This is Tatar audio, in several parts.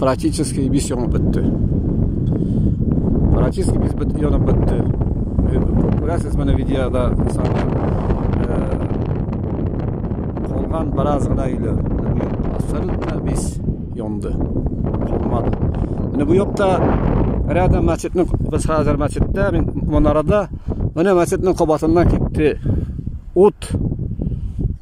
практически бис янып бетте. Практически бис бит янып бетте. Күрәсез менә видеода сарда. Калган бераз гына иле. Абсолютно бис янды. Калмады. Менә бу якта рядом мәчетнең без хәзер мәчеттә, мин монарада менә мәчетнең кабатыннан китте. Ут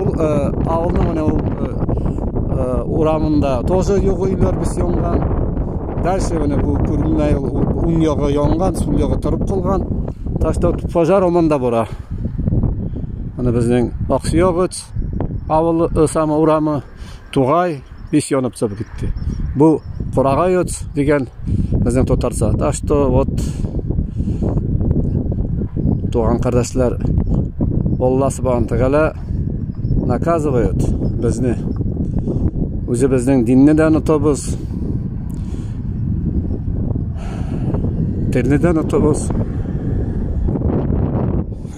Ул авылның менә ул урамында тоже юк өйләр без янган. Дальше менә бу күренмәй уң ягы янган, сул ягы торып калган. Так что пожар оманда бара. Аны безнең Аксуягыц авылы, сама урамы. Тугай ис янып чыгып китте. Бу курагайоц дигән безнең татарча. Так что вот туган кардәшләр Алла Субхану Тәгалә наказывает безне. Үзе безнең динне дә онытабыз. Телне дә онытабыз.